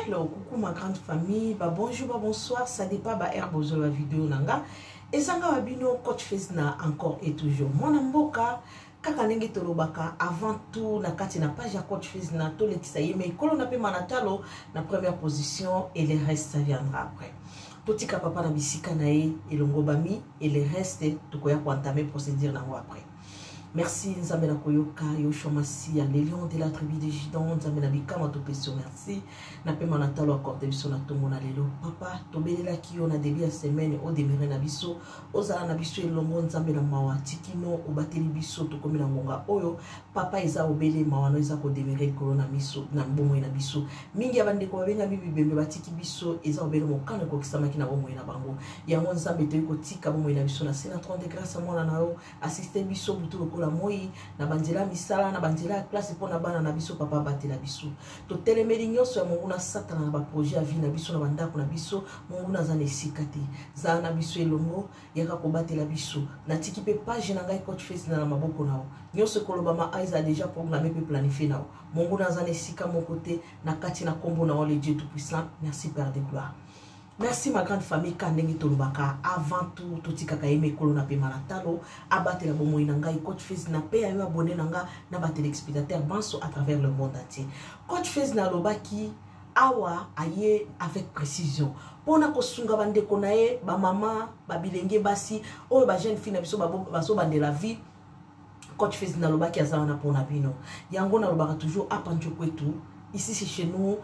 Hello, coucou ma grande famille, ba bonjour, ba bonsoir, ça dépend ba air bozo la vidéo nanga. Ezanga wa bino coach face na encore et toujours. Mwana mboka kaka ndenge tolobaka avant tout na kati na page ya coach face na tolekisa ye mais kolo na pe manatalo na première position et le reste ça viendra après. Totika papa na bisika na ye elongobami et le reste tokoya ko entamer procédure nango après. Merci Nzambe na koyoka Yoshua Masiya le lion de la tribu de Judan Nzambe na bikama topesi yo merci na pema na talo accorde biso na tongo na lelo papa tobelelaki yo na début ya semaine o demeure na biso ozala na biso elongo Nzambe na mawa tikino obateli biso tokomi na ngonga oyo papa eza obele mawa no eza kodemeure likolo na miso na bomoi na biso mingi ya bandeko babengami bibembe batiki biso eza obele mokano ekokisamaki na bomoi na bango yango Nzambe toyei kotika bomoi na biso na se na 30 grâce ya mwana na yo asiste biso butu lokola moi na banzela ya misala na banzela ya klase mpo na bana na biso papa abatela biso totelemeli nyonso ya monguna satana na baprojet ya vie na biso na bandako na biso monguna aza na esika te zala na biso elongo yaka kobatela biso natiki mpe page na ngai coach face na na maboko na yo nyonso ekolobama aiza deja programme mpe planifie na yo monguna aza na esika moko te na kati na nkombo na yo le dieu tout puissant merci père de gloire merci ma grande famille ka ndenge tolobaka avant tout totikaka ye mikolo na pema na talo abatela bomoi na ngai coach fils na pe ya yo abone na nga na batelespectateur banso à travers le monde entier coach fils nalobaki awa aye avec précision mpo na kosunga bandeko na ye bamama babilenge basi oyo bajeune fille na biso bazobandela vie coach fils nalobaki aza wana mpo na bino yango nalobaka toujours apanjo kwetu ici c'est chez nous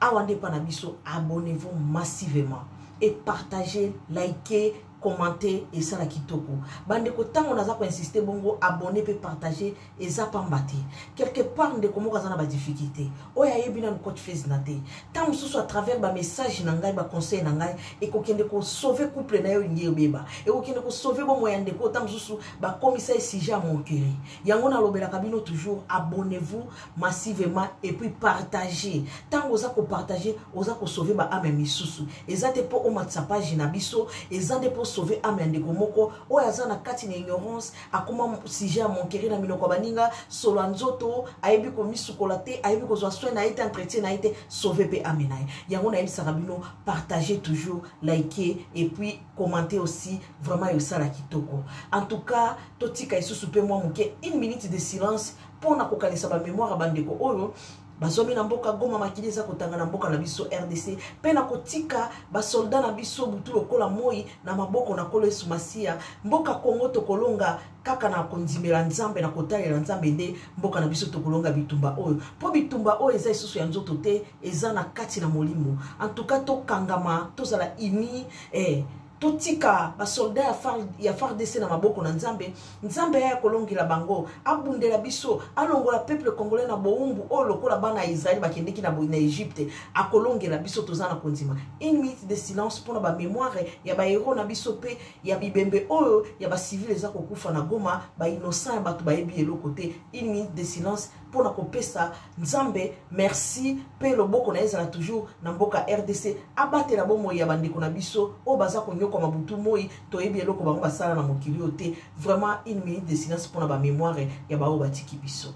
awa nde epa na biso abonnez-vous massivement et partagez likez commente esala kitoko bandeko ntango naza koinsiste bongo abonne mpe partage eza pamba te quelque part ndeko moko aza na badifficulté oyo ayebi nanu coach fase na te ntango mosusu à travers bamessage na ngai baconseil na ngai ekokende kosauve couple na ye olingi ebeba ekokende kosauve bomoi ya ndeko oyo ntango mosusu bakomisa ye sujet ya monkele yango nalobelaka bino toujours abonnez-vous massivement et puis partage ntango oza kopartage oza kosauve baame ya misusu eza te mpo omatisa page na biso eza nde mpo sauve ame ya ndeko moko oyo aza na kati na ignorance akoma sujet ya monkele na minoko ya baninga solo ya nzoto ayebi komisukola te ayebi kozwa soin na ye te entretien na ye te sauve mpe ame na ye yango nayebisaka bino partage toujours like et puis commente aussi vraiment yosala kitoko en tout cas totika lisusu mpe mwa moke une minute de silence mpo na kokanisa bamemoire ya bandeko oyo bazwami na mboka goma makili eza kotanga na mboka na biso rdc mpe na kotika basoldat na biso butu lokola moi na maboko na kolo yesu masiya mboka kongo tokolonga kaka na kondimela nzambe na kotalela nzambe nde mboka na biso tokolonga bitumba oyo mpo bitumba oyo eza lisusu ya nzoto te eza na kati na molimo antuka tokangama tozala ini eh, totika basolda ya, far, ya fardc na maboko na nzambe nzambe ya kolongela bango abundela biso alongola peuple congolais na bowumbu oyo lokola bana ya israele bakendeki na, na egypte akolongela biso toza na kondima une minute de silence mpona bamemoire ya bahero na biso mpe ya bibembe oyo ya bacivile eza kokufa na goma bainnocent ya bato bayebi eloko te une minute de silence mpo na kopesa nzambe merci mpe loboko na ye ezala toujours na mboka rdc abatela bomoi ya bandeko na biso oyo baza konyokwama butu moi toyebi eloko bango basala na mokili oyo te vraiment une minute de silence mpo na bamemoire ya baoyo batiki biso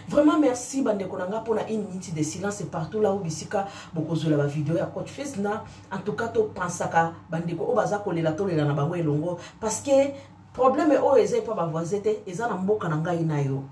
vraiment merci bandeko na nga mpona une minute de silence partout là oyo bisika bokozwela bavideo ya coach fils na en tout cas topansaka bandeko oyo baza kolela tolela na bango elongo parce que problème oyo eza epa bavoisin te eza na mboka na ngai na yo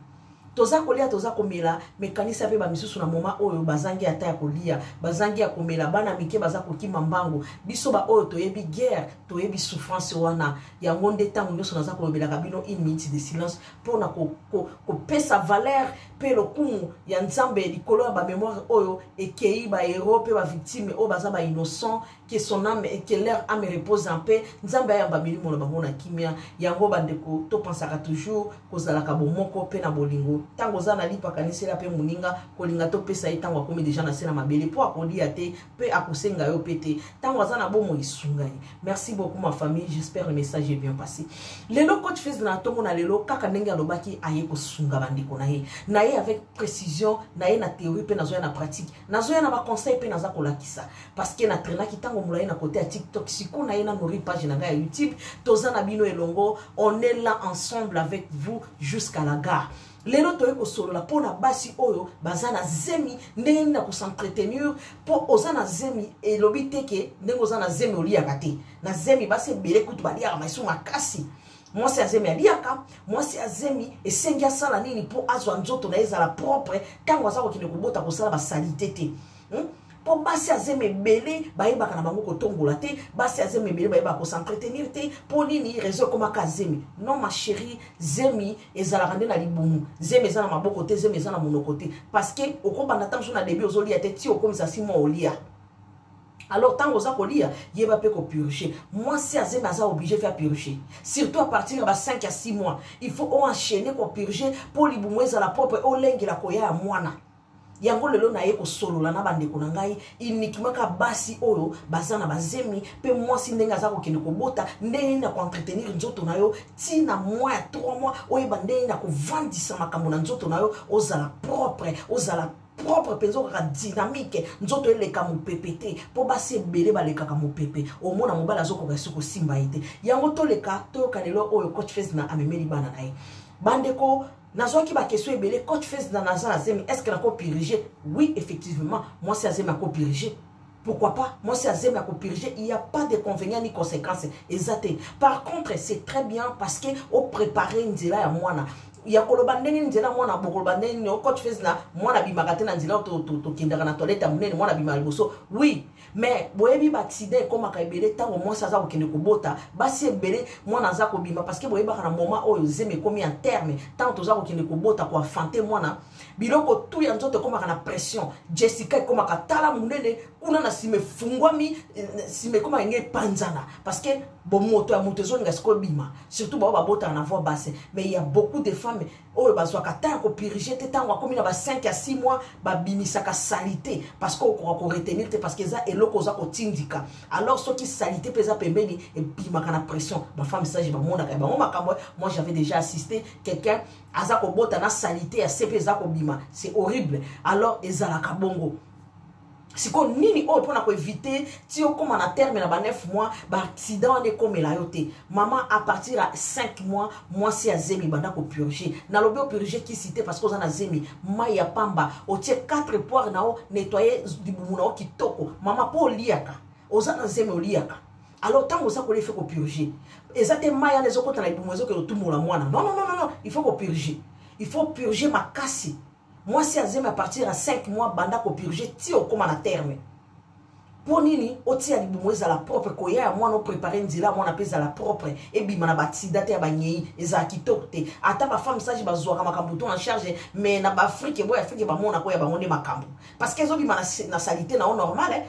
toza kolia toza komela mekanisa mpe bamisusu na moma oyo bazangi ata ya kolia bazangi ya komela bana mike baza kokima mbango biso baoyo toyebi guerre toyebi souffrance wana yango nde ntango nyonso naza kolobelaka bino une minute de silence mpo na kopesa ko, ko valeur mpe lokumu ya nzambe likolo ya bamemoire oyo ekei bahéros mpe bavictime oyo baza bainnocent que son âme et que leur âme repose en paix nzambe ayamba milimo na bango na kimia yango bandeko topansaka toujours kozalaka bomoko mpe na bolingo ntango oza na lipa kanisela mpe moninga kolinga topesa ye ntango akomi deja na se na mabele mpo akolia te mpe akosenga yo mpe te ntango aza na bomo esunga ye merci beaucoup ma famille j'espère le message est bien passé lelo coach fils na ntongo na lelo kaka ndenge alobaki aye kosunga bandeko na ye na ye avec précision na ye na théorie mpe nazoya na pratique nazoya na baconseil mpe naza kolakisa parce que na trainaki ntango molai na kote ya tiktok siko na ye na nori page na ngai ya youtube toza na bino elongo on est là ensemble avec vous jusqu'à la gare lelo toyei kosolola mpo na basi oyo baza na zemi ndenge nini na kosentretienir mpo oza na zemi elobi te ke ndenge oza na zemi oliyaka te na zemi basi ebele kutu baliyaka maisu makasi mwasi ya zemi aliyaka mwasi ya zemi esengi asala nini mpo azwa nzoto na ye ezala propre ntango aza kokende kobota kosala basalite te hmm? mpo basi ya zemi ebele bayebaka na bango kotombola te basi ya zemi ebele bayebaka kosentrtenir te mpo nini reseau ekomaka zemi non ma chérie zemi ezalaka nde na libumu zemi eza na maboko te zemi eza na monoko te parce que okobanda ntango mosusu na debi ozolia te ti okomisa si mwa olia alors ntango oza kolia yeba mpe kopurge mwasi azemi aza oblige fya purge surtout à partir ya ba 5 ya 6 mois il faut oenchaine kopurge mpo libumu ezala propre olengela koya ya mwana yango lelo naye kosolola na bandeko na ngai uniquement ka basi oyo baza na bazemi mpe mwasi ndenge aza kokende kobota ndenge nini akoentretenir nzoto na yo ti na mwa ya 3 mois oyeba ndenge nini akovandisa makambo na nzoto na yo ozala propre ozala propre mpenza okaka dynamique nzoto eleka mopepe te mpo basi ebele balekaka mopepe omona mobali azokoka esi kosimba ye te yango toleka toyoka lelo oyo coach fes na amemeli bana na ye bandeko nazwaki bakestion ebele coach fes na naza na zemi estce nakopirige oui effectivement mwasi ya zemi akopirige pourquoi pas mwasi ya zemi akopirige il y a pas de convénient ni conséquence eza te par contre c'est très bien parce que oprépare nzela ya mwana ya koloba ndenge nini nzela mwana bokoloba ndenge nini ocoach fes na mwana abimaka te na nzela tokendaka na toilette ya monene mwana abimaka liboso oui mais boyebi baaccident ekomaka ebele ntango mwasi aza kokende kobota basi ebele mwana aza kobima parceke boyebaka na moma oyo zemi ekomi ya terme ntango toza kokende kobota koafante mwana biloko tu ya nzoto ekomaka na pression jessica ekomaka tala monene kuna na nsima efungwami nsima ekoma enge epanzana parceke bomoto ya moto ezolinga sikoyo bima surtout bao babotaka na voi basse mais ya beaucoup de femmes oyo bazwaka temps ya kopirige te ntango akomi na ba 5 ya 6 mois babimisaka salite parce que okoka koretenir te parce que eza eloko oza kotindika alors soki salite mpe eza pembeni ebimaka na pression bafemme sage bamonaka ya bango makambo moi j'avais déjà assisté quelqu'un aza kobota na salite ya se mpe eza kobima c'est horrible alors ezalaka bongo siko nini oyo mpona koevite ti okóma na terme na ba 9 mois baaccident wana ekomela yo te mama a partir ya 5 mois mwasi ya zemi banda kopurge nalobi opurge kisi te parce que oza na zemi mai ya pamba otie 4 poire na yo nettoye libumu na yo kitoko mama mpo oliyaka oza na zemi oliyaka alors ntango oza kolia ife kopurge eza te mai wana ezokota na libumu ezokende otumola mwana non non non non il faut kopurge il faut purge makasi mwasi ya zemi à partir ya 5 mois banda kopurge ti okóma na terme mpo nini otia libumu ezala propre koya ya mwana oprepare nzela ya mwana mpe ezala propre ebima na basida te ya banyei ezala kitoko te ata bafemme sage bazwaka makambo to na charge me na baafrike boye afrike bamonako ya bango nde makambo parce que ezobima na, na salite na yo normal eh?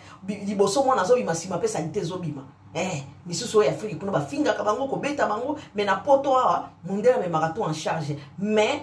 liboso mwana azobima nsima mpe salite ezobima eh, misusu oyo ya afrike kuna bafingaka bango kobeta bango me na poto awa mondele amemaka to en charge mais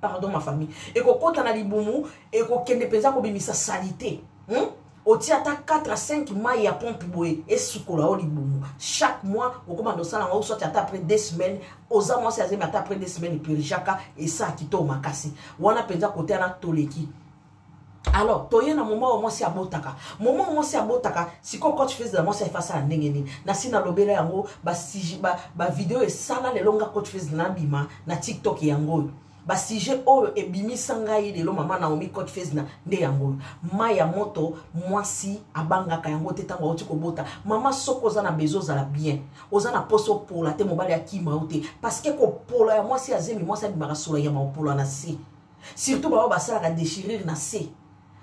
pardon ma famille ekokota na libumu ekokende mpenza kobimisa salite hmm? otia ata 4 à 5 mai ya pompe boye esukola yo libumu chaque mois okobanda osala yango soit ata après deux semaines oza mwasi azemi ata après deux semaines epurgeaka esaa kitoko makasi wana mpenza kote wana toleki alors toye na moma oyo mwasi abotaka moma oyo mwasi abotaka sikoyo coach fezela mwasi ayefa asala ndenge nini nasi nalobela yango bavideo ba, ba esala lelo nga coach fez nabima na tiktok yango oyo basujet oyo ebimisa ngai lelo mama naomi coach fezna nde yango oyo mai ya moto mwasi abangaka yango te ntango auti kobota mama soko oza na bezo ozala bien oza na mposa opola te mobali akima yo te parceke kopola ya mwasi ya zemi mwasi abimaka sola ya maopola na se surtout baoyo basalaka déchirure na se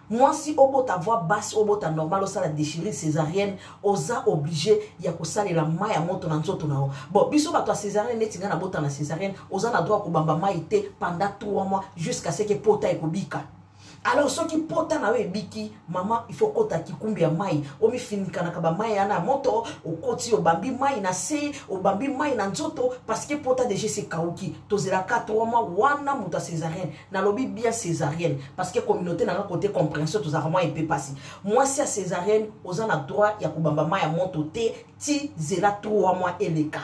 mwasi obota voix basse obota normal osala déchirure césarienne oza oblige ya kosalela mai ya moto na nzoto na yo bon biso bato ya césarienne neti ngai nabota na césarienne oza na droit kobamba mai te pendant 3 mois jusqu'à ce que pota ekobika alors soki pota na yo ebiki mama il faut okota kikumbi ya mai omifinikanaka bamai yana ya moto okoti obambi mai na se obambi mai na nzoto parceke pota deja esekauki tozelaka trois mois wana moto ya césarienne nalobi bien césarienne parceke communauté nanga kote compréhension tozalaka mwa epe mpasi mwasi ya césarienne oza na droit ya kobamba mai ya moto te ti zela trois mois eleka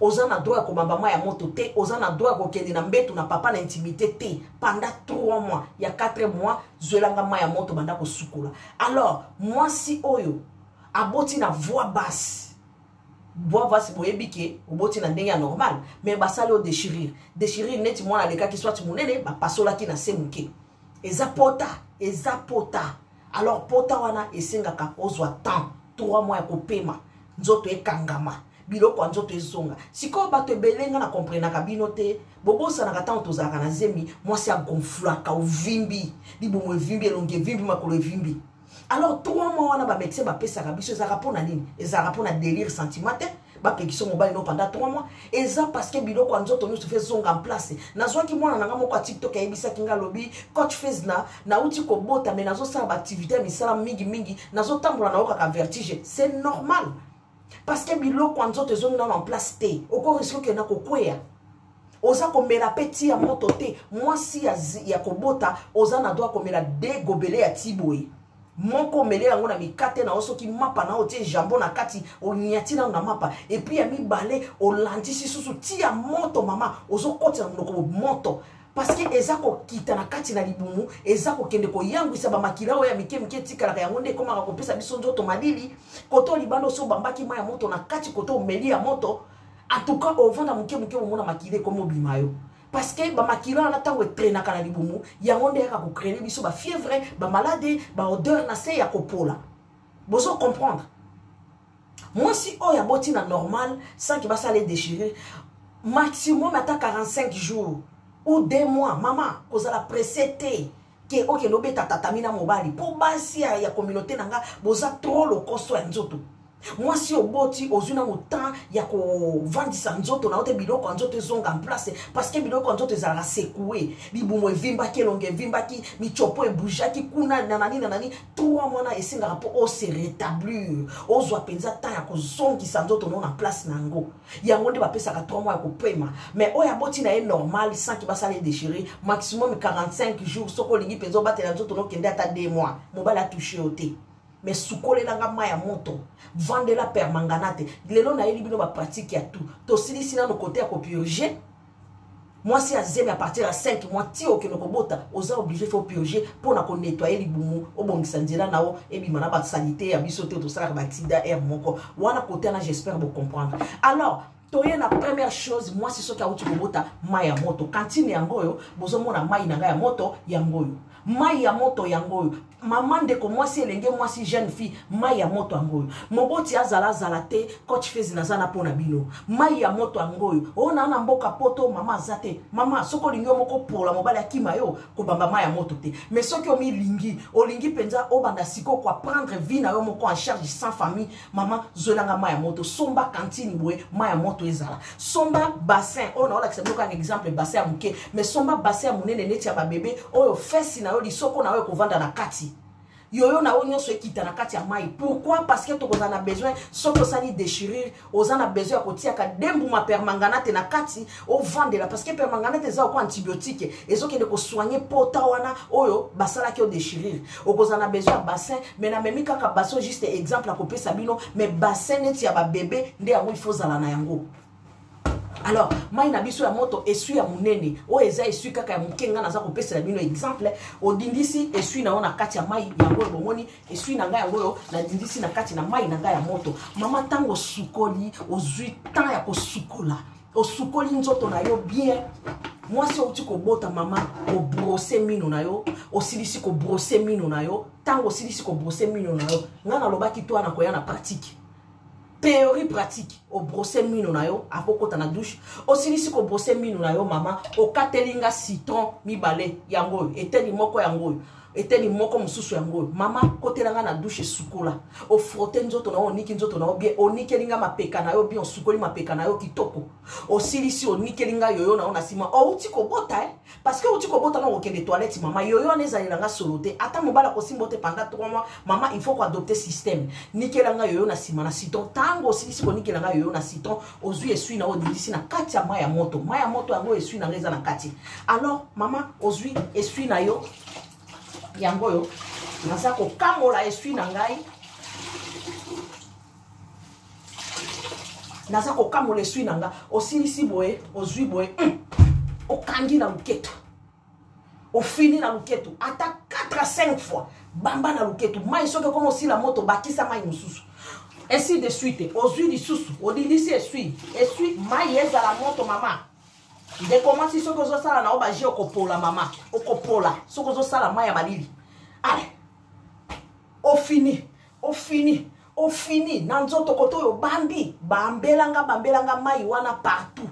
oza na droit ya kobamba mai ya moto te oza na droit ya kokende na mbetu na papa na intimité te pendant 3 mois ya 4 mois zwelanga mai ya moto banda kosukola alors mwasi oyo aboti na voix basse bwa basi boyebi ke oboti na ndenge ya normal mais basali oyo dechirire dechirire neti mwana alekaki swati monene bapasolaki na se moke eza pota eza pota alors pota wana esengaka ozwa temps 3 mois ya kopema nzoto ekangama biloko ya nzoto ezonga sikoyo bato ebele nga na komprenaka bino te bobosanaka ntango tozalaka na zemi mwasi agonflaka ovimbi libumu evimbi elongi evimbi makolo evimbi alors trois mois wana bamédecin bapesaka biso ezalaka mpo na nini ezalaka mpo na délire sentiment te bapekisa mobali no pendant trois mois eza parce que biloko ya nzoto nyonso fe ezonga place nazwaki mwana na nga moko ya tiktok ayebisaki nga alobi coach fes na nauti kobota mai nazosala baaktivité ya misala mingi mingi nazotambola na yo kaka vertige c'est normal parce que biloko ya nzoto ezongi nano en place te okoriske okenda kokweya oza komela mpe ti ya moto te mwasi ya, ya kobota oza na droit komela de gobele ya ti boye moko omele yango na mikate na yo soki mapa na yo otie jambo na kati onyati nano na mapa epui ya mibale olandisi susu ti ya moto mama ozokotisa na monoko moto parceke eza kokita na kati na libumu eza kokende koyangwisa bamakila oyo ya mike mike etikalaka yango nde ekomaka kopesa biso nzoto malili koto libanda osi obambaki mai ya moto na kati koto omeli ya moto en tout cas ovanda moke moke omona makila ekomi obima yo parce que bamakila wana ntango etrenaka na libumu yango nde yaka kocrene biso bafievre bamalade baodeur na se ya kopola bozo comprendre mwasi oyo aboti na normal sanki basala edechire maximum ata 45 jours ou deux mois mama kozala presse te ke okende obeta tatami na mobali mpo basi ya, ya communauté na nga boza trop lokoso ya nzoto mwasi oboti ozwi na motemp ya kovandisa nzoto na yo te biloko ya nzoto ezonga en place parce que biloko ya nzoto ezalaka sekoue libumu evimbaki elongo evimbaki micopo ebujaki kuna na nani na nani trois mwana esengaka mpo ose rétablir ozwa mpenza temps ya kozongisa nzoto no na place na yango yango nde bapesaka 3 mois ya kopema mais oyo aboti na ye normal sans ki basala ye déchiré maximum 45 jours soki olingi mpenza obatela nzoto nokende ata 2 mois mobali atouche yo te mais sukolelanga mai ya moto vandela permanganate lelo nayeli bino bapratique ya tout tosilisi nano kote ya kopurge mwasi ya zemi à partir ya 5 mois ti okende kobota oza oblige fo purge mpo na konettoye libumu obongisa nzela na yo ebima na basalite ya biso te tosalaka baaccident aire moko wana kote wana j'espère bocomprendre alors toye na première chose mwasi soki awuti kobota mai ya moto kantine yango oyo bozomona mai na ngai ya moto yango oyo mai ya moto yango oyo mama ndeko mwasi elenge mwasi jeune fille mai ya moto yango oyo moboti azala azala te coach fezi naza na mpo na bino mai ya moto yango oyo oyo naa na mboka poto mama aza te mama soki olingi yo moko pola mobali akima yo kobamba mai ya moto te mais soki omilingi olingi mpenza obanda sikoyo koaprendre vie na yo moko en charge sans famille mama zwelanga mai ya moto somba kantine boye mai ya moto ezala somba bassin oyo naolakisa bino kaka exemple bassin ya moke mais somba bassin ya monene neti ya babebe oyo fesi na yo lisoko na yo ekovanda na kati yoyo na yo nyonso ekita na kati ya mai pourquoi parce que tokozala na besoin soki osali déchirure oza na besoin ya kotiaka dembuma permanganate na kati ovandela parce que permanganate eza oko antibiotique ezokende kosoigne pota wana oyo basalaki odechirire okozala na besoin ya bassin mais namemi kaka bassin juste exemple akopesa bino mais bassin neti ya babebe nde yango ifo ozala na yango alors mai na biso ya moto esui ya monene oyo eza esui kaka ya moke ngai naza kopesela bino exemple odindisi esui na yo na kati ya mai yango oyo bomoni esui na ngai yango oyo nadindisi na kati na mai na ngai ya moto mama ntango osukoli ozwi temps ya kosukola osukoli nzoto na yo bien mwasi outi kobota mama obrose mino na yo osilisi kobrose mino na yo ntango osilisi kobrose mino na yo ngai nalobaki to wana koya na pratique théorie pratique obrose mino na yo akokota na douche osilisi kobrose mino na yo mama okateli nga citron mibale yango oyo eteni moko yango oyo eteni moko mosusu yango oyo mama kotela ngai na dushe sukola ofrote nzoto na yo oniki nzoto na yo bien onikeli ngai mapeka na yo bien osukoli mapeka na yo kitoko osilisi onikeli ngai yoyo na yo na nsima outi kobota e parce que outi kobota na okokende toilette mama yoyo wana ezalela ngai solo te ata mobali akosimba ote panda trois mois mama il faut koadopte système nikela ngai yoyo na nsima na citon ntango osilisi konikela ngai yoyo na citon ozwi eswi na oyo odindisi na kati ya mai ya moto mai ya moto yango eswi na ngai eza na kati alors mama ozwi eswi na yo yango oyo naza kokamola eswi na ngai naza kokamola eswi na ngai osilisi boye ozwi boye hmm. okangi na loketo ofini na luketu ata 4 à 5 fois bamba na luketu mai soki ekoma osila moto bakisa mai mosusu ainsi de suite ozwi lisusu olilisi eswi eswi mai ezala moto mama ndeko mwasi soki ozosala na yo baje okopola mama okopola soki ozosala mai ya malili ale ofini ofini ofini na nzoto kote oyo bambi bambelanga bambelanga mai wana partout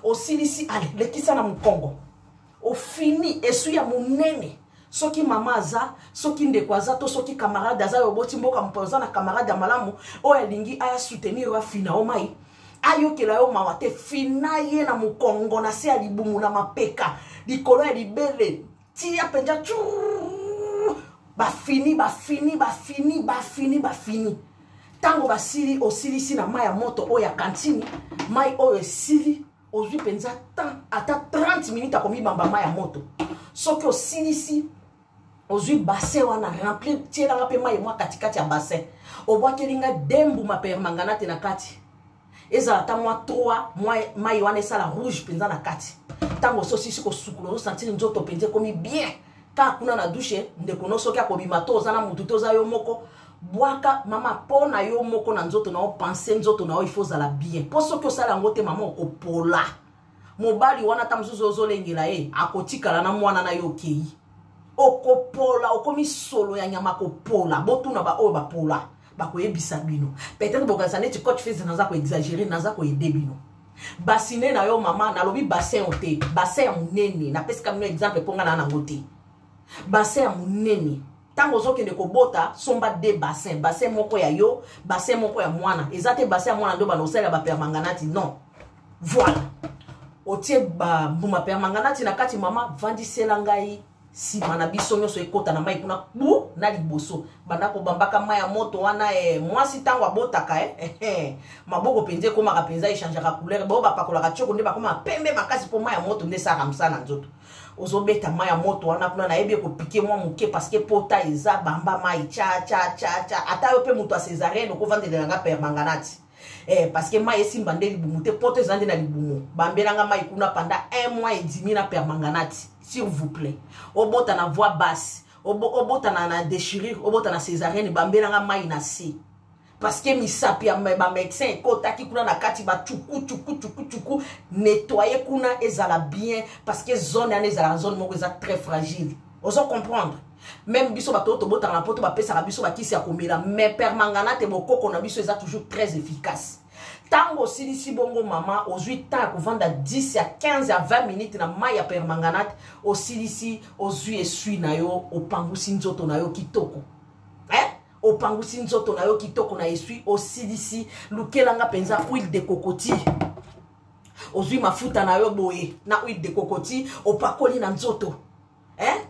osilisi ale lekisa na mokongo ofini esui ya monene soki mama aza soki ndeko aza to soki camarade aza yo oboti mboka mopo oza na camarade ya malamu oyo alingi aya soutenir yo afina yo mai ayokela yo mawa te fina ye na mokongo na se ya libumu na mapeka likolo ya libele tia mpenza bafini bafini bafini bafini bafini ntango basili osilisi na mai ya moto oyo ya kantini mai oyo esili ozwi mpenza temps ata 30 minute akomibamba mai ya moto soki osilisi ozwi bassin wana remplir tielanga mpe mai mwa katikati ya bassin obwakeli nga de mbuma permanganate na kati ezala ata mwa 3 mai wana esala rouge mpenza na kati ntango ososisi kosukula osantiri nzoto mpenza ekomi bien kaka kuna na dushe ndeko no soki akobima to oza na motu to oza yo moko bwaka mama mpo na yo moko na nzoto na yo pense nzoto na yo ifo ozala bien mpo soki osala yango te mama okopola mobali wana ata mosusu ozolengela ye akotikala na mwana na yo okei okopola okomi solo ya nyama kopola botuna baoyo bapola bakoyebisa bino peut-être bokanisa neti coach fils naza koexagere naza koyede bino basine na yo mama nalobi bassin o te bassin ya monene napesika bino exemple mpo ngai naa nango te bassin ya monene ntango ozokende kobota somba de bassin bassin moko ya yo bassin moko ya mwana eza te bassin ya mwana nde obanda kosalela bapermanganati non voilà otie bambuma permanganati na kati mama vandisela ngai nsima na biso nyonso ekota na mai kuna kpu na liboso banda kobambaka mai ya moto wana e mwasi ntango abotaka e eh, eh, maboko mpenza ekomaka mpenza echangeaka couleur bao bapakolaka tioko nde bakoma pembe makasi mpo mai ya moto nde esalaka mosala na nzoto ozobeta mai ya moto wana kuna nayebi ekopike mwa moke parceke pota eza bamba mai cha cha cha cha ata yo mpe moto ya cesarienne okovandelela nga permanganati eh, parceke mai esimba nde libumu te poto eza nde na libumu bambelanga mai kuna panda un mois edimi na permanganati s'il vous plaît obota na voix basse obota na, na déchirure obota na cesarienne bambelanga mai na se parceke misapi ya bamedecin ekotaki kuna na kati bacuku cuku cuku cuku nettoye kuna ezala bien parceke zone yana ezalaka zone moko eza très fragile ozo comprendre meme biso bato oyo tobotaka na poto bapesaka biso bakisi ya komela mais permangana te bokoko na biso eza toujours très efficace ntango osilisi bongo mama ozwi temps ya kovanda 10 ya 15 ya 20 minute na mai ya permanganate osilisi ozwi eswi na yo opangusi nzoto na yo kitoko opangusi nzoto na yo kitoko na eswi osilisi lukela nga mpenza huile de cocotie ozwi mafuta na yo boye na huile de cocotie opakoli na nzoto eh?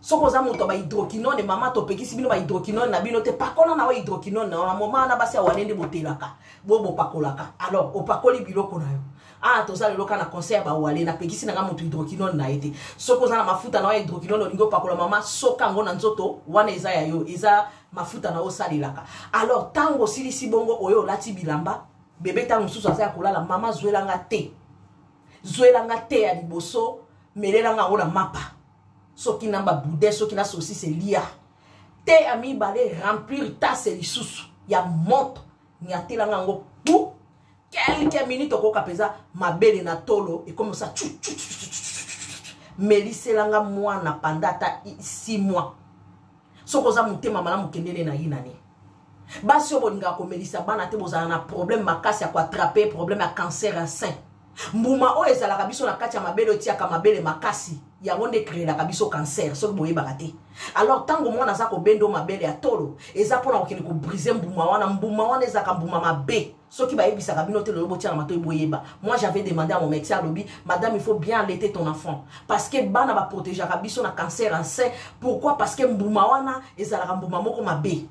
soki oza moto ya bahydroquinone mama topekisi bino bahydroquinone na bino te pakola na yo hydroquinone na yo na moma wana basi ya wane nde botelaka bo bopakolaka alors opakoli biloko na yo awa ah, toza lelo kaka na conseil ya bawale napekisi nanga moto hydroquinone na ye te soki oza na mafuta na yo ya hydroquinone olingi opakola mama soka yango na nzoto wana eza ya yo eza mafuta na yo osalelaka alors ntango osilisi bongo oyo olati bilamba bebe ntango mosusu aza ya kolala mama zwelanga te zwelanga te ya liboso melelanga yango na mapa soki na babude soki na sosise lia te ya mibale remplir tase lisusu ya moto nyatelanga yango pu kelke minute okoyoka mpenza mabele na tolo ekomosa cu meliselanga mwana panda ata 6 mois soki oza motema malamu kendene na yinani basi oyo bolingaka komelisa bana te bozala na problème makasi ya koatrape problème ya cancer ya sein mbuma oyo ezalaka biso na kati ya mabele otiaka mabele makasi yango nde ekreelaka biso cancer soki boyebaka te alors ntango mwana aza kobendo mabele ya tolo eza mpona kokende kobrise mbuma wana mbuma wana ezalaka mbuma mabe soki bayebisaka bino te lelo botiana matoi boyeba moi j'avais demandé à mon médecin alobi madame il faut bien allaiter ton enfant parce que bana baprotegeaka biso na cancer en sein pourquoi parce que mbuma wana ezalaka mbuma moko mabe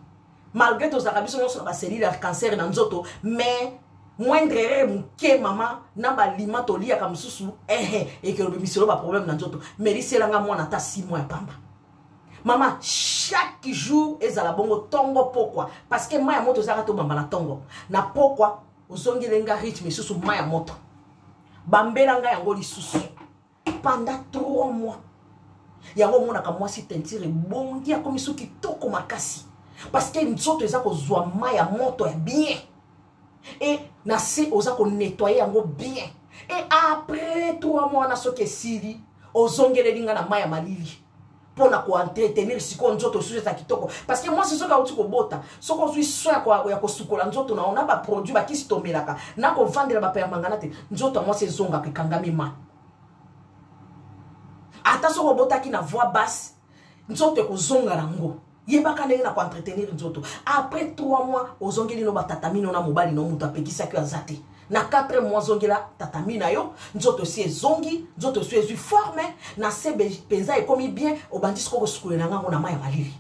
malgré tozalaka biso nyonso na baselile ya cancer na nzoto mais moindre erreur moke mama na balima toliyaka mosusu ehe ekelobimiselo baproblème na nzoto meliselanga mwana ata si mwa ya pamba mama chaque jour ezala bongo tongo pokwa parce que mai ya moto ezalaka tobamba na tongo na pokwa ozongeli nga rythme lisusu mai ya moto bambela nga yango lisusu pendant trois mois yango omonaka mwasi tentire ebongi akomi so kitoko makasi parce que nzoto eza kozwa mai ya moto ya bien e na se oza konettoye yango bien e après trois mois wana soki esili ozongeleli ngai na mai ya malili mpo na koentretenir sikoyo nzoto esusu eza kitoko parce que mwasi soki auti kobota soki ozwi soin ya kosukola nzoto na yo na baproduit bakisi tomelaka na kovandela bapermangana te nzoto ya mwasi ezongaka ekangami ma ata soki obotaki na voix basse nzoto ekozonga nango yebaka ndenge na koentretenir nzoto après 3 mois ozongeli no batatamino na mobali no moto apekisaki yo aza te na 4 mois zongela tatami na yo nzoto esi ezongi nzoto esi ezwi forme na se mpenza ekomi bien obandi sikoyo kosukolela ngai yango na mai ya malili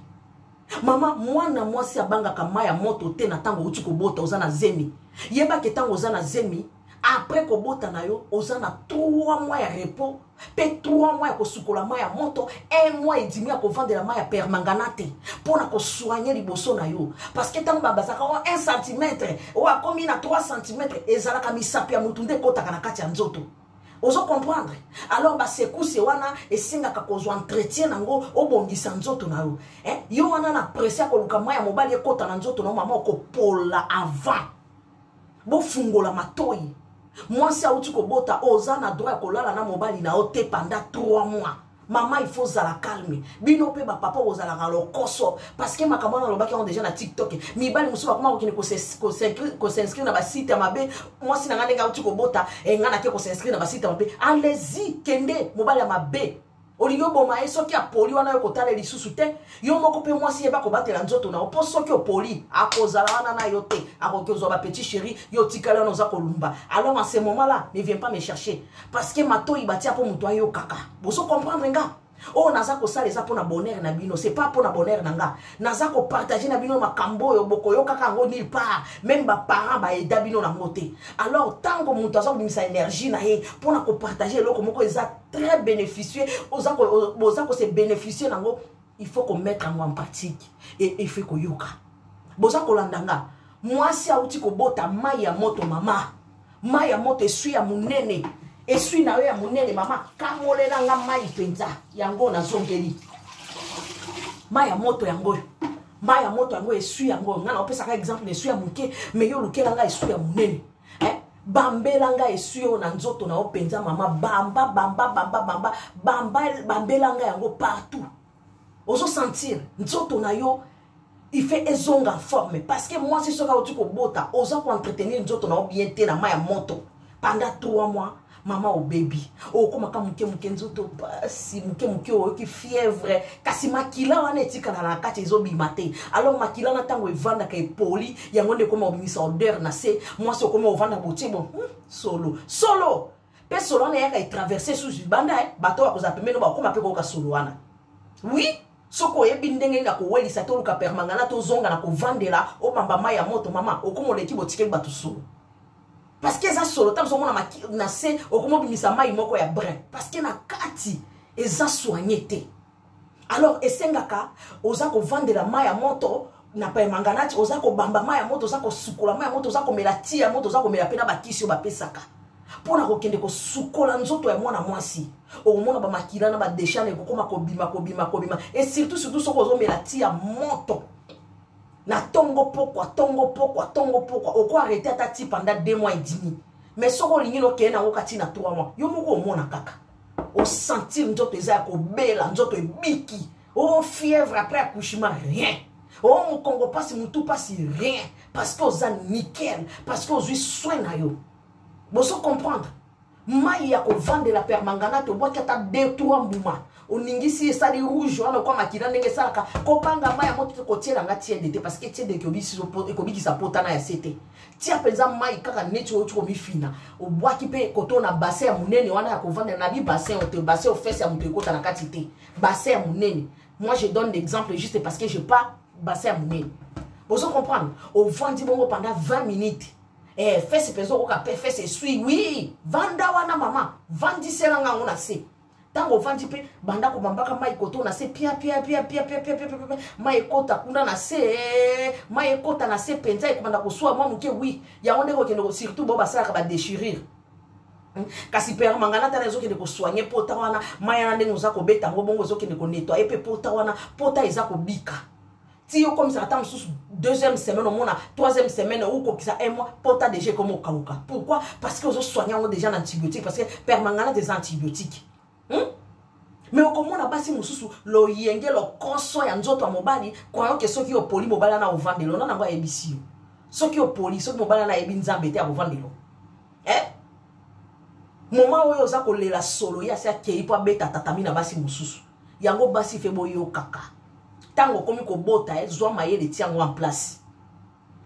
mama mwana mwasi abangaka mai ya moto te na ntango outi kobota oza na zemi yebake ntango oza na zemi après kobota na yo oza na 3 mois ya repos mpe 3 mois ya kosukola mai ya moto 1 mois edimi ya kovandela mai ya permanganate mpo na kosoigne liboso na yo parceke ntango babazaka o 1 centimetre oyo akomi na 3 centimetre ezalaka misapi ya motu nde ekotaka na kati ya nzoto ozo comprendre alors basekuse wana esengaka kozwa entretien nango obongisa nzoto na yo eh? yo wana na presse ya koluka mai ya mobali ekota na nzoto na yo mama okopola avant bofungola matoi mwasi auti kobota oyo oza na droit ya kolala na mobali na yo te panda 3 mois mama il faut ozala calme bino mpe bapapa bozalaka lokoso parceke makambo wana alobaki yango deja na tiktok mibali mosusu bakoma kokende kosinscrire na basite ya mabe mwasi na ngai ndenge auti kobota engai nake kosinscrire na basite ya mabe alezi kende mobali ya mabe olingi oboma ye soki apoli wana yo kotala lisusu te yo moko mpe mwasi yeba kobatela nzoto na yo mpo soki opoli akozala wana na yo te akoki ozwa bapetit chéri yo otikali wana oza kolumba alors en ce moment là ne vient pas me chercher parce que matoi batia mpo moto ayokaka bozo comprendre nga oyo oh, naza kosala eza mpo na bonheur na bino c'est pas mpo na bonheur na nga naza kopartage na bino makambo oyo bokoyokaka yango nil part meme baparent baeda bino nango te alors ntango moto aza kobimisa energie na ye mpo na kopartage eloko moko eza très bénéficieux oza boza ko se bénéficier nango il faut ko mettre yango en pratique et il faut koyoka boza kolanda nga mwasi auti kobota mai ya moto mama mai ya moto eswi ya monene eswi na yo ya monene mama kamolela nga mai mpenza yango nazongeli mai ya moto yango oyo mai ya moto yango eswi yango ngai naopesaka exemple na eswi ya moke me yo olukela ngai eswi ya monene eh? bambela nga esui oyo na nzoto na yo mpenza mama bamba bamba bamba bamba bamba bambela nga yango partout ozosentir nzoto na yo ife ezonga forme parce que mwasi soki auti kobota oza koentretenir nzoto na yo bien te na mai ya moto pendant 3 mois mama obebi okomaka moke moke nzoto mpasi moke moke oyoki fièvre kasi makila wana etikala na kati ezobima te alors makila na ntango evandaka epoli yango nde ekoma obimisa odeur na se mwasi okoma ovanda botie bo hmm, solo solo mpe solo wana eyaka etraverse susu libanda eh, bato bakozala pembeni bakoma mpe koyoka solo wana oui soki oyebi ndenge nini akowelisa te oluka permangana tozonga na kovandela obamba mai ya moto mama okomoleki botikeli bato solo parce que eza solo ntango ozomona na se okomobimisa mai moko ya brin parce que na kati eza soigne te alors esengaka oza kovandela mai ya moto na paemanganati oza kobamba mai ya moto oza kosukola mai ya moto oza komela ti ya moto oza komela mpe na bakisi oyo bapesaka mpo na kokende kosukola nzoto ya mwana mwasi okomona bamakila na badeshane ekokoma kobima kobima kobima e surtout surtout soki ozomela ti ya moto na tongo pokwa tongo pokwa tongo pokwa oko arrete ata ti panda deux mois edimi mais soki olingi nokende yango kati na trois mois yo moko omona kaka osentir nzoto eza ya kobela nzoto ebiki o oh, fièvre après accouchement rien o oh, mokongo mpasi motu mpasi rien parce que oza nickel parce que ozwi soin na yo bozo comprendre mai ya kovandela permangana tobwaki ata de trois mbuma oningisi esali rouge wana okwa makila ndenge esalaka kobanga mai ya moto te kotiela nga tiende te parce que tiende ekobikisa potana ya se te tia mpenza mai kaka neti outi komifina obwaki mpe koto na basin ya monene wana ya kovandela na bibasin oyo te basin ofese ya moto ekota na kati te basin ya monene moi je donne l'exemple juste parce que je pas basin ya monene ozo comprendre ovandi bongo pendant 20 minutes eh, fese mpenza okoka mpe fese eswi wi vanda wana mama vandisela ngango na se ntango ovandi mpe banda komambaka mai koto na se piapiapiapiapiapiapiapia mai ekota kuna na se mai ekota na se mpenza ekobanda koswa mwa moke wi yango ndenge okende surtout bao basalaka badechirire hmm? kasi pere mangana tala ezokende kosoigne pota wana mai yana ndenge oza kobeta yango bongo ezokende konetwaye mpe pota wana pota eza kobika ti okomisaka ntango mosusu deuxième semaine omona troisième semaine okokisa un mois pota déjà ekoma okauka pourquoi parce que ozosoigne yango déjà na antibiotique parce que permanganate eza antibiotique hmm? me okomona basi mosusu loyenge lokoso ya nzoto ya mobali kwayoke soki opoli mobali wana ovandelo na nango ayebisi yo soki opoli soki mobali wana ayebi nzambe te akovandelo eh? moma oyo oza kolela solo ye asi akei mpo abeta tatami na basi mosusu yango basi fe boyokaka ntango okomi kobota ye eh, zwa mayele ti yango en place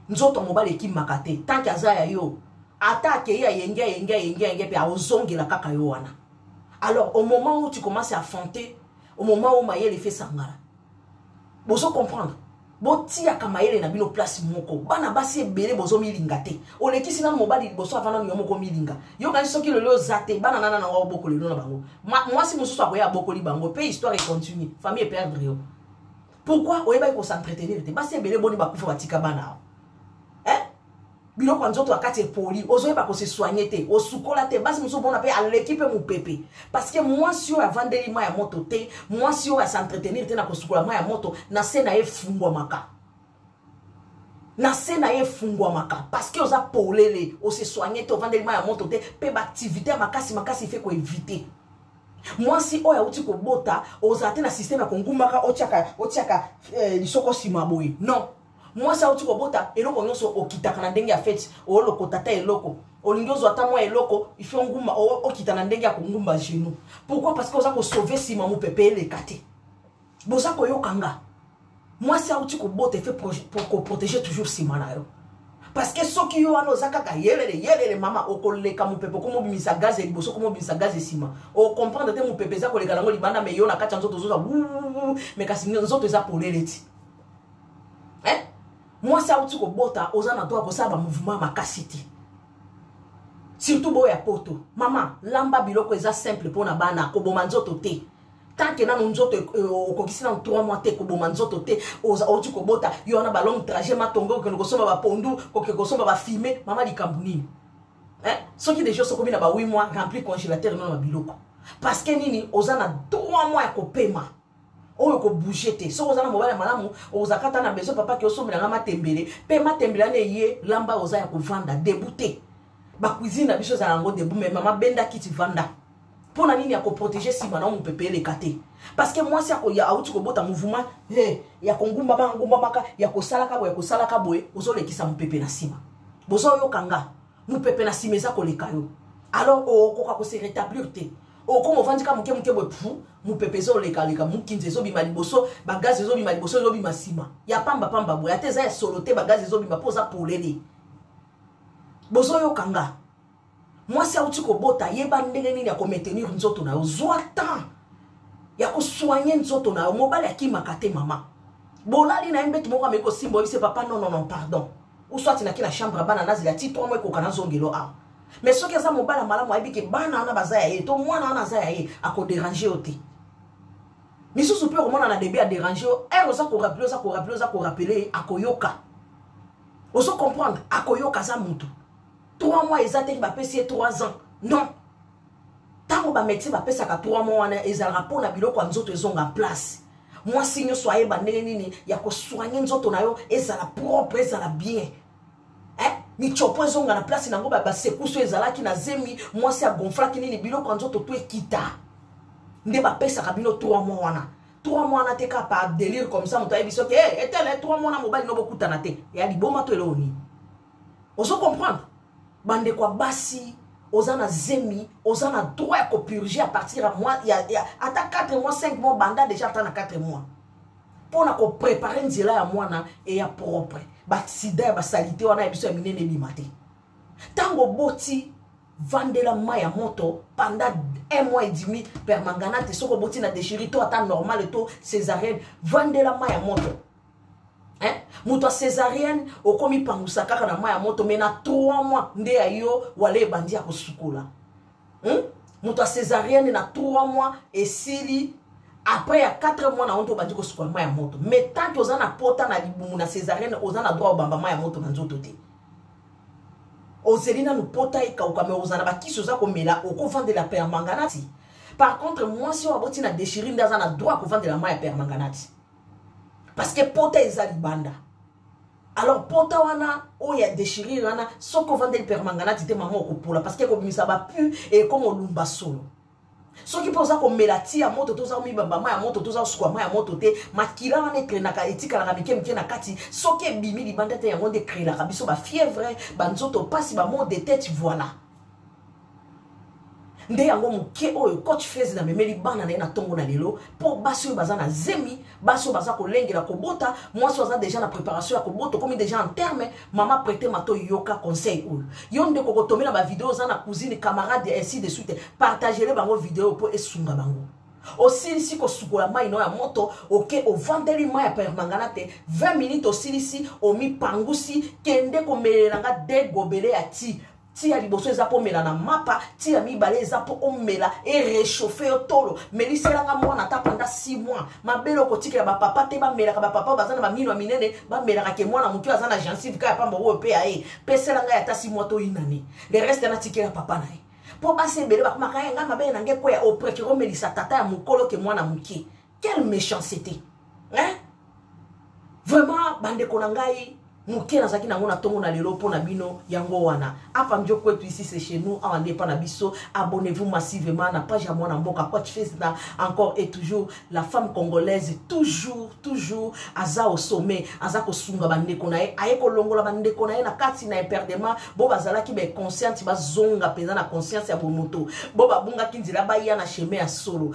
nzoto mobali ekimaka te tanke aza ya yo ata akei ayenge ayenge ayenge ayenge mpe aozongela kaka yo wana alors au moment où tu commences à affronter au moment où mayele fe sangala bozo comprendre botiaka mayele na bino place moko bana basi ebele bozomilinga te olekisi nano mobali liboso ava nano yo moko omilinga yokani soki lelo oza te bana nana na wao bokoli lino na bango mwasi mosusu akoya abokoli bango mpe histoire econtinue famille eperdre yo pourquoi oyebaki kosentrete nini te basi ebele boni bakufa batika bana awa biloko ya nzoto ya kati epoli ozoyeba kose soigne te osukola te basi mosusu omona mpe aleki mpe mopepe parceke mwasi oyo avandeli mai ya moto te mwasi oyo asentretenir te na kosukola mai ya moto na se na ye efungwamaka na se na ye efungwamaka parceke oza polele ose soigne te ovandeli mai ya moto te mpe baaktivité ya makasi makasi ife koevite mwasi oyo auti kobota ozala te na systeme ya kongumbaka otiaka, otiaka eh, lisoko nsima boye non mwasi auti kobota eloko nyonso okitaka na ndenge ya feti olokota ata eloko olingi ozwa ata mwa eloko ifo ngumba okita na ndenge ya kongumba genou pourquoi parce que oza kosauve nsima mopepe eleka te boza koyoka nga mwasi auti kobota efe koprotege toujours nsima na yo parce que soki yo wana oza kaka yelele yelele mama okoleka mopepe okomobimisa gaz ya liboso okomobimisa gaz ya nsima okomprendre te mopepe eza koleka nango libanda me yo na kati ya nzoto ozoza me kasi nzoto eza polele ti eh? mwasi auti kobota oza na droit kosala bamouvement makasi te surtout boyo ya poto mama lamba biloko eza simple mpo na bana koboma nzoto te tant que nanu nzoto euh, okokisi nanu 3 mois te koboma nzoto te outi kobota yo wana balongue trajet matonge okende kosomba bapondu koke kosomba bafime mama likambo nini eh? soki deja osokomi na ba 8 mois rempli congélateur nono na biloko parce que nini oza na 3 mois ya kopema oyo kobouge te soki oza na mobali ya malamu ozalaka ata na besoin papa ke osombela nga matembele mpe matembele ana eye lamba oza ya kovanda debu te bacuisine na biso ezala yango debu me mama benda kiti vanda mpo na nini ya koprotege nsima na yo mopepe eleka te parce que mwasi akoya awuti kobota mouvement he ya kongumbama angumbamaka ya kosalaka boye ya kosalaka boye ozolekisa mopepe na nsima bozoyoka nga mopepe na nsima eza koleka yo alors okoka kose rétablir te okoma ovandi ka moke moke boye pu mopepe ezolekaleka mokinzi ezobima liboso bagazi ezobima liboso ezobima nsima ya pamba pamba boye ata eza ya solo te bagazi ezobima mpo oza polele bozoyoka nga mwasi auti kobota yeba ndenge nini ya komaintenir nzoto na yo zwa temps ya kosoigne nzoto na yo mobali akimaka te mama bolali na ye mbetu moko ameki kosimba oyebise papa nononon pardon uswati naki na chambre ya bana nazela ti 3 mwa ekoka nazongelo awa mais soki aza mobala malamu ayebi ke bana wana baza ya ye to mwana wana aza ya ye akoderange yo te misusu mpe okomona na debut aderange yo ere oza korapele oza korapele oza korapele ye akoyoka ozo comprendre akoyoka aza motu 3 mois eza te bapesi ye 3 ans non ntango bamédecin bapesaka 3 mois wana ezalaka mpo na biloko ya nzoto ezonga place mwasi nyonso ayeba ndenge nini ya kosoigne nzoto na yo ezala propre ezala bien eh? michopo ezonga na place nango basekuse oyo ezalaki na zemi mwasi agonflaki nini biloko ya nzoto to ekita nde bapesaka bino 3 mois wana 3 mois wana te kaka par delire comme ça moto ayebi soki eh, etele 3 mois wana mobali no bokutana te ya liboma to eloko nini ozo comprendre bandeko ya basi oza na zemi oza na droit ya kopurge à partir ya ata 4 mois 5 mois banda déjà ata na 4 mois mpo na koprepare nzela ya mwana eya propre baksida ya basalite wana ya biso ya minene ebima te ntango oboti vandela mai ya moto panda un mois et demi permangana te soki oboti na dechiri to ata normale to césarienne vandela mai ya moto moto ya césarienne okomipangusa kaka na mai ya moto mai na 3 mois nde ya yo wala ebandi ya kosukola hmm? moto ya césarienne na 3 mois esili après ya 4 mois na yango nto obandi kosukola mai ya moto mais tant oza na pota na libumu na césarienne oza na droit obamba mai ya moto na nzoto te ozeli nanu pota ekauka me ozala bakisi oza komela okovandela permanganati par contre mwasi oyo aboti na deshiri nde aza na droit kovandela mai ya permanganati parce que pota eza libanda alors pota wana oyo ya déchirure wana soki ovandeli permanganati te mama okopola parce que ekobimisa bapu ekoma olumba solo soki mpe oza komela ti ya moto te oza komibamba ma ya moto te oza kosukwa ma ya moto te makila wana ekrenaka etikalaka mike mike na kati soki ebimi libanda te yango nde ekrelaka biso bafievre banzoto mpasi bamode tete voilà nde yango moke oyo coach fez na memeli bana na ye na ntongo na lelo mpo basi oyo baza na zemi basi oyo baza kolengela kobota mwasi oyo aza deja na préparation ya kobota okomi deja en terme mama prete mato yoka conseil oyo yo nde kokotomela bavideo oza na cousine camarade ya ainsi de suite partagele bango video mpo esunga bango osilisi kosukola mai no ya moto oke ovandeli mai ya permangana te 20 minute osilisi omipangusi kende komelela nga degobele ya ti ti ya liboso eza mpo omela na mapa ti ya mibale eza mpo omela erechauffe yo tolo meliselanga mwana ata panda 6 mois mabele okotikela bapapa te bamelaka bapapa baza na bamino ya minene bamelaka ke mwana motu aza na gensive kaka pamba oyo mpe ya ye pesela ngai ata 6 mois toyinani le reste natikela papa na ye mpo basi ebele bakomaka ye ngai mabele na ngai ekweya oprefere omelisa tata ya mokolo ke mwana moke quelle méchanceté hein vraiment bandeko na ngai moke nazalaki nango na ntongo na lelo mpo na bino yango wana apa njo kwetu ici c'est chez nous awa nde epa na biso abonnez-vous massivement na page ya mwana mboka coach fesna encore et toujours la femme congolaise toujours toujours aza au sommet aza kosunga bandeko na ye aye kolongola bandeko na ye na kati na imperdement bo bazalaki baconsciente bazonga mpenza na conscience ya bomoto bo babungaki nzela baya na chemin ya solo